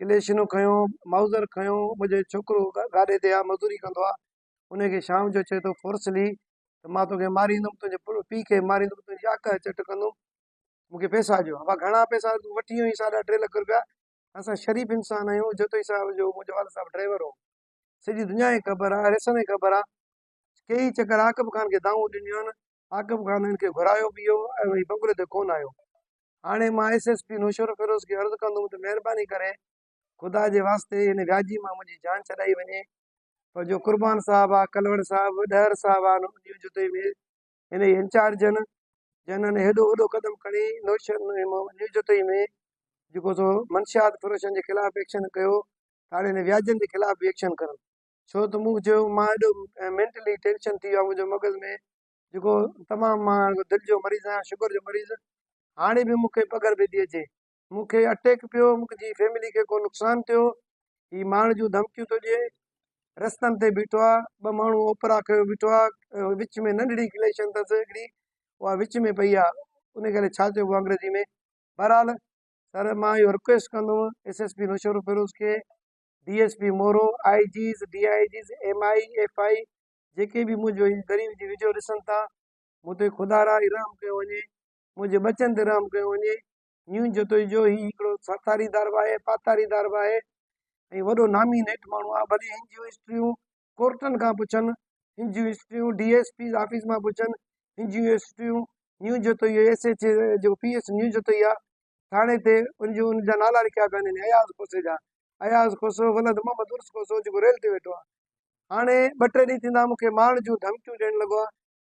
ڪليشنو کنيو مائوزر کنيو منهنجو ڇوڪرو گاڏي تي آهي مزدوري ڪندو آهي ان کي شام جو چئي ٿو فورسلي ته مان توکي ماريندم تنهنجي پيء کي به ماريندم تنهنجي آڪهه جو چٽ ڪندم مونکي پئسا ڏيو هئا گهڻا پئسا تون وٺي ويو آهين ساڍا ٽي لک رپيا اسان شريف انسان آهيون جتوئي صاحب جو منهنجو والد صاحب ڊرائيور هو سڄي دنيا کي خبر آهي ريسن کي خبر آهي ڪيئي چڪر عاقب خان کي دانهون ڏنيون آهن عاقب خان هن کي گهرايو به هو ۽ وهي بنگلي تي ڪونه آيو. هاڻي مان ايس ايس پي نوشهروفيروز کي عرض ڪندم ته مهرباني ڪري خدا جي واسطي هن وياجي مان منهنجي جان ڇڏائي وڃي پر جو قربان صاحب آ ڪلوڙ صاحب ڏهر صاحب آ نه انهيء جتي ۾ هنئي انچارجن جنن هيڏو وڏو قدم کڻي نوشهرونيو جتي ۾ جيڪو سو منشيات فروشن جي خلاف ايڪشن ڪيو ته هاڻي هن وياجن جي خلاف به ايڪشن ڪرن. ڇو ته مون چيو مان ايڏو مينٽلي ٽينشن ٿي ويو آهي منهنجو مغز ۾ جيڪو تمام مان دل جو مريض آهيان شگر جو مريض هاڻي به مون کي پگهر پئي ٿي اچي مون کي اٽيڪ پيو منهنجي فيملي کي ڪو نقصان ٿيو هي مارڻ جون ڌمڪيون ٿو ڏئي رستن تي بيٺو آهي ٻه ماڻهو اوپرا ڪيو بيٺو آهي وچ ۾ ننڍڙي ڪليشن اٿس هڪڙي اها وچ ۾ پئي آهي ان ڪري ڇا چئبو آهي انگريزي ۾ بهرحال سر مان اهو رڪويسٽ ڪندو S S P Naushahro Feroze کي D S P Moro, I Gs, D I Gs, M I F I جيڪي به منهنجو هن غريب جي ويڊيو ڏسن ٿا مون تي خدا را رحم ڪيو وڃي منهنجي ٻچن تي رحم ڪيو وڃي نيون جتوئي جو هي هڪڙو ساٿاري دار به آهي پاٿاري دار به آهي ۽ وڏو نامي نيٺ ماڻهو آهي ڀلي هن جون هسٽريون ڪورٽن کان پڇن هن جون هسٽريون ڊي ايس پي آفيس مان پڇن هن جون هسٽريون نيون جتوئي ايس ايچ او جو پي ايس نيون جتوئي آ ٿاڻي تي ان جو ان جا نالا لکيا پيا آهن اياز کوسي جا اياز کوسو ولد محمد عرس کوسو جيڪو ريل تي ويٺو آ هاڻي ٻه ٽي ڏينهن ٿيندا مون کي مارڻ جون ڌمڪيون ڏيڻ لڳو آ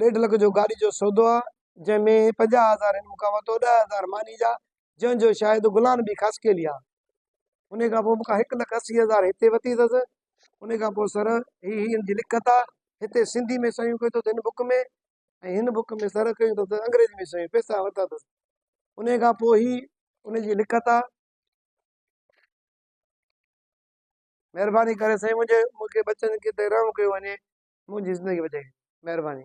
ڏيڍ لک جو گاڏي جو سودو آ جنهن ۾ پنجاهه هزار هن مون کان ورتو ڏهه هزار ماني جا جنهن جو شايد گلان به خاص ڪيلي آ انهي کان پوء مون کان هڪ لک اسي هزار هتي ورتي اٿس انهي کان پوء سر هي هي هن جي لکت آ هتي سنڌي ۾ صحيحون ڪيو اٿس هن بڪ ۾ ۽ هن بڪ ۾ سر ڪيو اٿس انگريزي ۾ صحيحون پئسا ورتا اٿس انهي کان پوء هي انهي جي لکت آ مھرباني ڪري سائين منھنجي مونکي ٻچن کي تي رحم ڪيو وڃي منھنجي زندگي بچائي مھرباني.